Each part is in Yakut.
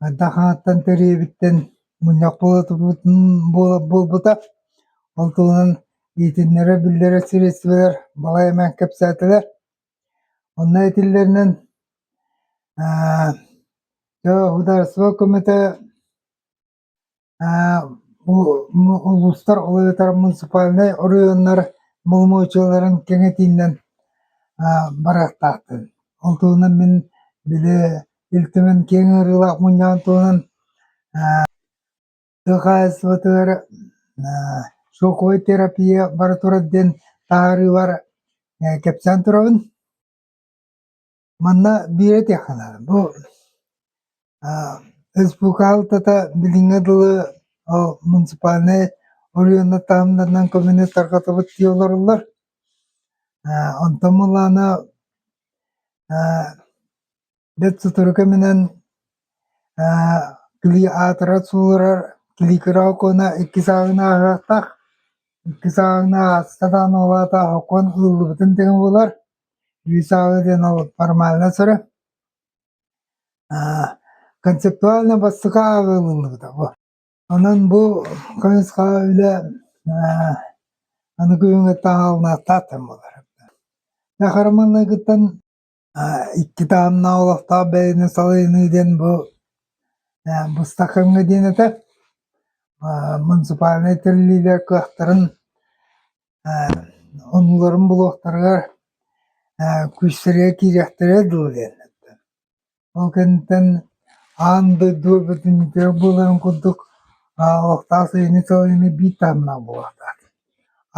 хайдах ааттан төрүөбүттэн мунньах буолбута. Ол туһунан иитиннэрэ-биллэрэ средстволар балай эмээн кэпсээтилэр. Онно этиллэринэн э, судаарыстыба көмөтө Бу улуустар, ол эбэтэр муниципальнай оройуоннар боломуочуйаларын кэҥэтиинэн барыахтаахтын. Ол туһунан мин били Ил Түмэн киэҥ ыарыылаах мунньаҕын туһунан тыа хаһаайыстыбатыгар шоковая терапия бара турар диэн таһаарыылар кэпсээн турабын. Манна биир этиэхэ бу республикалыта билиҥҥэ дылы ол муниципальнай Өлүөнэ таһымнарынан көмөнү тарҕатыбыт дии олороллор. Онтон мулаана бэрт сотору кэминэн кили аатыра сууларар киликира окуона иккис ааҕын ааҕыахтаах. Иккис ааҕын ааста даҕаны ол аата окуон ылыллыбытын тэҥэ буолар. Рязала диэн ол формальнай сыры. Аа, концептуально бастакы ааҕылынныбыта бу. Онон бу кыһыска үлэ аа аныгы күҥҥэ таһаалнаахтаахтан буолар. Кахарманныгыттан аа икки таһымнаах олохтоох бэйэни салайыныы диэн бу аа быстакыҥҥа диэн этэ. Аа муниципальнай тэриллиилэр кыахтарын Онууларын булуохтарыгар күрсэрийэ киириэхтэрэ дуу диэн. Ол кэнниттэн аан дойду үрдүн буоларын курдук олохтоох сайыны-салайыыны биир таһымнаах буолуохтаах.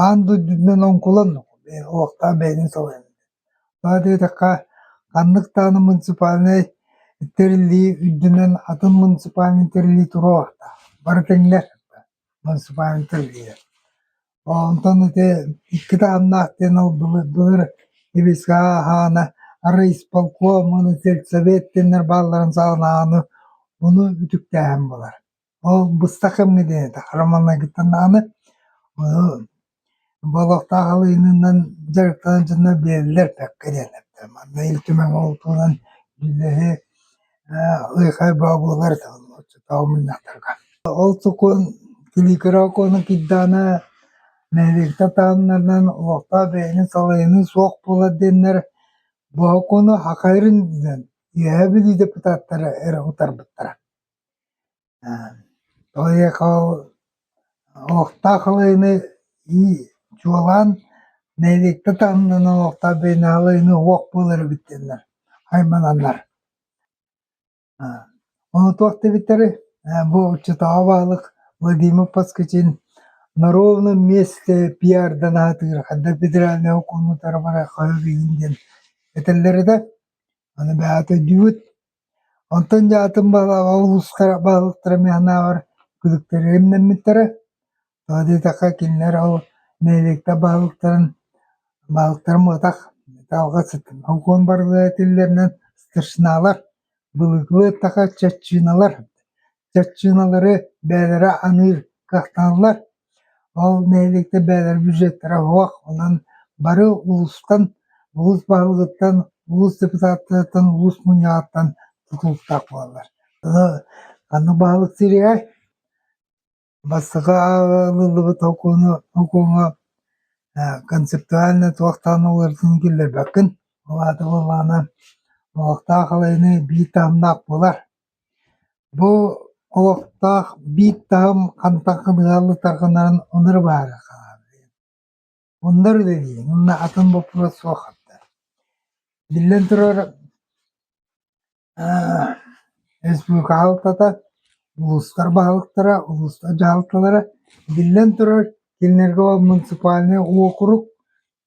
Аан дойдутунан оҥкуланнык олохтоох бэйэни салайан. Тоҕо диэтэххэ, ханнык даҕаны муниципальнай тэриллии үрдүнэн атын муниципальнай тэриллии туруохтаах. Бары тэҥнэр. Муниципальнай тэрилинэ. Оо онтон ити икки таһымнаах диэн ол былыр Небеска ааһаана, арай исполкомун, сельсовет диэннэр баалларын саҕалааҕыны ону үтүктээһин буолар. Ол быстах кэмҥэ диэн этэх, романнаргыттан даҕаны Бу олохтоох алыынынан дьарыктанар дьоно бэйэлэр бэккэ диэннэртэр. Манна Ил Түмэҥҥэ ол туһунан үлэһи ээ Лыхай Бообулар оччотооҕу мунньахтарга. Ол сокуон Килиикирэ окуона киирдэҕинэ нэһилиэктэр таһымнарынан олохтоох бэйэни салайыныы суох буолар диэннэр бу окууну хахайрын диэн Үөһээ Бүлүү депутаттара эрэ утарбыттара. Поехал олохтоох ылыыны ии чуолаан нэһилиэктэ таһымынан олохтоох биээнэҕэ ылыыны уох буолар эбиттэннэр аймананнар ону туох дэбиттэри бу отчуттааҕы баһылык Владимир Поскачин норуобунай миэстэ пиардан аһатыыга ханна федеральнай окуонутара бары хайа билигин диэн этэллэрэ да аны бэйэҕэ төрдүүбүт Онтон дьаатым улуустара баһылыктара миһинээҕэр күлүктэрэ имнэммиттэрэ. Тоҕо диэтэххэ кинилэр ол нэһилиэктэр баһылыктарын баһылыктарын муотах алҕас окуон барылара этиллэринэн старшиналар былыргылыы эттэххэ чаччыыналар чаччыыналары бэйэлэрэ аныыр кыахтаналлар Ол нэһилиэктэр бэйэлэрэ бюджеттара суох, онон бары улуустан, улуус баһылыгыттан, улуус депутаттарыттан, улуус мунньаҕыттан тутулуктаах буолаллар. Ону ханнык баһылык сириэй? Бастакы ылыллыбыт окууну окууҥа э концептуально туохтаан уларытыыны киллэрбэккин. Ол аата буоллаҕына, олохтоох алайыныы биир таһымнаах буолар. Бу олохтоох биир таһым хантан хабыһаллытаргынарын онура баара хаалыа. Муннар үлэлиэҥ уонна атын боппуруос суоххуттар. Биллэн турар, республика аһалтата, улуустар баһылыктара, улуустар дьаһалталара, биллэн турар, кинилэргэ муниципальнай уокурук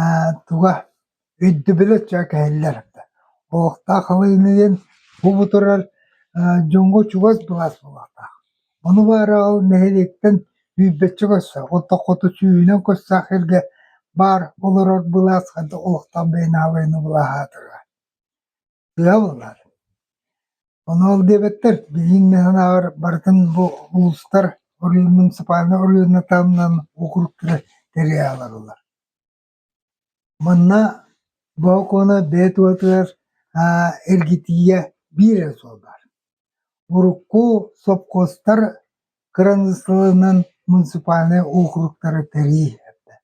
Ээ, туга, өйдөбүлэ чэ кэһиллэр да, олохтоох халыҥныын бу бутурар дьоҥҥо чугас былаас буолуохтаах. Ону баара ол нэһилиэктэн үүрбэччэ көрсө, оттон хоту сүүһүнэн көрсөөх сиргэ баар олорор былаас олохтоох бэйэнаабайны былааһаатара. Тыал ылар. Ону ол диэбэттэр, билиҥ да санаабар барытын бу улуустар муниципальнай оройуонна таһымынан округтары тэрийэ олороллор. Манна бу окуона бэйэ туһатыгар эргитиигэ биир эрэ суол баар. Урукку сопхуостар кыраныыссаларынан муниципальнай округтары тэрии эрдэ,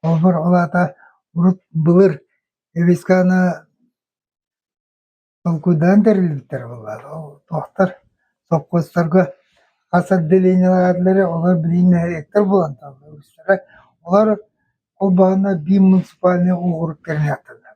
холобур, ол аата урут былыр эвесканы толкуйдаан тэриллибиттэрэ буоллаҕа, ол туохтар сопхуостарга хас отделениелаах этилэрэ, олор билигин нэһилиэктэр буолан тураллар үгүстэрэ, олор холбооно биир муниципальнай округ тэринэ аттанар.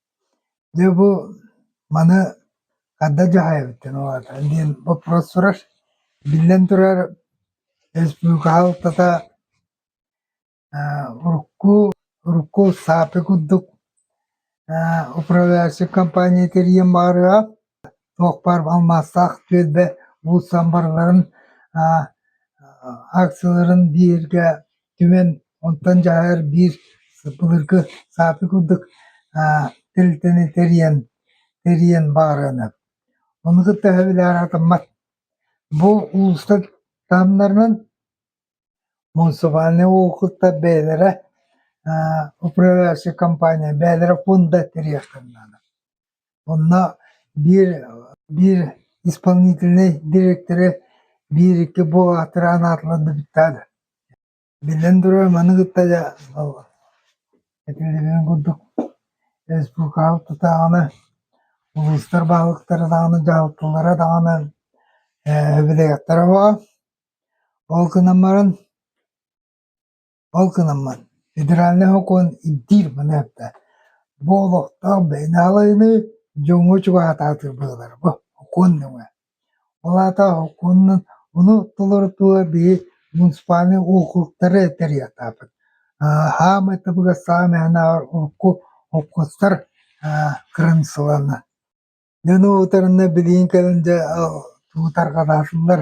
Дьэ бу маны ханна дьаһайабытын улаатан диэн боппуруос турар. Биллэн турар, республика хаһалтата урукку урукку САПИ курдук управляющай компания тэрийиэн баҕарыаҕа. Туохпар алмаастаах түөлбэ уулуссам барыларын акцияларын биэргэ түмэн, онтон дьаһар биир былыргы сааты курдук тэрилтэни тэрийэн, тэрийэн баарыана. Ону кытта өһөбүлээн атыммат. Бу уулусса таһымнарынан муниципальнай уокуруктар бэйэлэрэ управляющай компания бэйэлэрэ фонда тэрийиэхтэрин наада. Онно биир биир исполнительнай дириэктэрэ биир-икки бу аатыраан аатылар да бүттээр Биллэн турар, маны кытта дьэ этиллибитин курдук республикаҕа тутааҕына, улуустар баһылыктара даҕаны дьаһалтылара даҕаны э, бэлиэтиэхтэрэ бөҕө. Ол гынан баран Ол гынаммын, федеральнай сокуон ирдиир маныаха бу олохтоох бэйэни алайыныы дьоҥҥо чугаһатаатыр быһыылара бу сокуон нөҥүө. Ол аата сокуонунан ону толорутууга биһи муниципальнай округтары тэрийэхтээхпит. Саамай табыгас саамай санаабар урукку холкуостар кырыымсыланна. Дьону утарына билигин кэлэн дьэ тутарҕалаатылар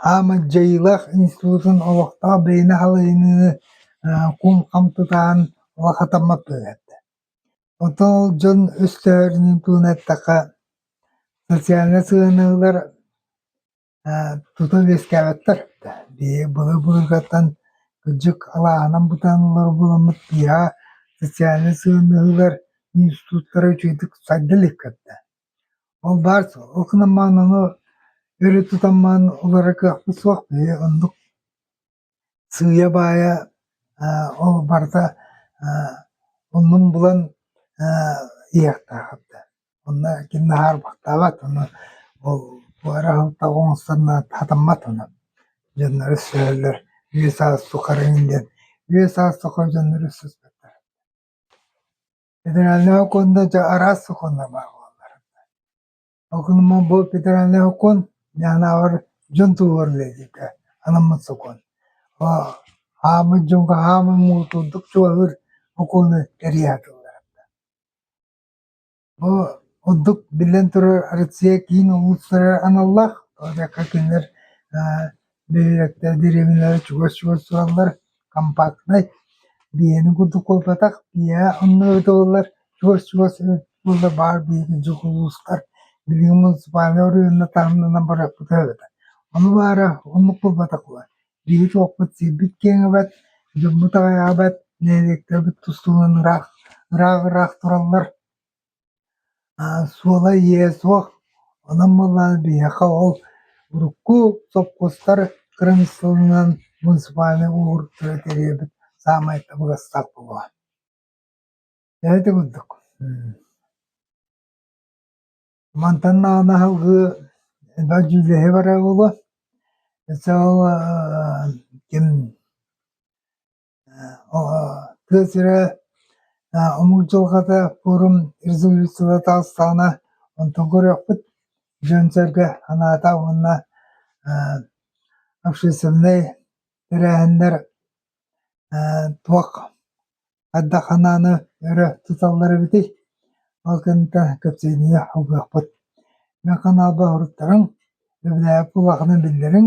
Хаамыт дьайыылаах институтун олохтоох бэйэни халайыныы куун-хам тутаан ыла хатаммат буолбута. Оттон ол дьон өстөөхөрүнэн туһунан эттэххэ, социальнай сыһыанньалар тута үөскээбэттэр. Биһиги былыр-былыргаттан кырдьык алааһынан бытааныллар буоламмыт, биһиэхэ социальнай сыһыаннаһыылар институттара үчүгэйдик сайда илик кэллэ. Ол баар ол гынан маананы өрө тутан маан ылара кыахпыт суох биһи оннук сыыйа-баайа аа ол барыта аа оннун булан аа иһиэхтээххит да онно ким наһаарбахтаабат ону ол буора аһылтаҕа оҥосторуна хатаммат ону дьоннору сөһөллөр үө-саас сухарыҥ диэн үө-саас сухар дьоннору сыспаттар Федеральнай окуонда дьэ араас сокуоннаах буолар. Сокуонуман бу федеральнай окуон яһанааҕар дьон туһугар үлэлииргэ анаммыт сокуон. Хааммыт дьонго хааман муҥутуурдук чугаһыыр окуону кэрийэ атыллар. Бу ордук биллэн турар Россия киин улуустара аналлаах. Ол кинилэр Бөһүөлэктэр дириэбинэлэрэ чугас чугас тураллар, компактнай, биэһэни курдук куоппатах, биэһэ онно ыытыллар, чугас чугас буолла баар биһиги дьокуускай билиҥҥи муниципальнай оройуонна таһымнанан барыахпыт эбэтэ. Ону баара оннук буолбатах буолар. Биһиги туохпут сирбит киэҥэбэт, дьоммут аҕыйаҕабэт, нэһилиэктэрбит тустуунан ыраах, ыраах-ыраах тураллар. Суола-ииһэ суох, онон буоллаҕына биһиэхэ ол урукку сопхуостар кырамыссалынан муниципальнай уҥуоргуттары тэрийэрбит саамай табыгастаах буолуо. Ити курдук. Мантан анаһы элбэх дьүүллэһи барар буолуо. Ким тыа сирэ омук дьылҕата форум резолюцияла таҕыстаҕына онтон көрүөхпүт дьон-сэргэ анаата уонна общественнай тэрээһиннэр туох хайдах анааны өрө туталлар эбитий ол кэнниттэн кэпсээнигэ улгуйуохпут мин каналбар уруттарыҥ өбүгэлэргэ куһаҕанын биллэриҥ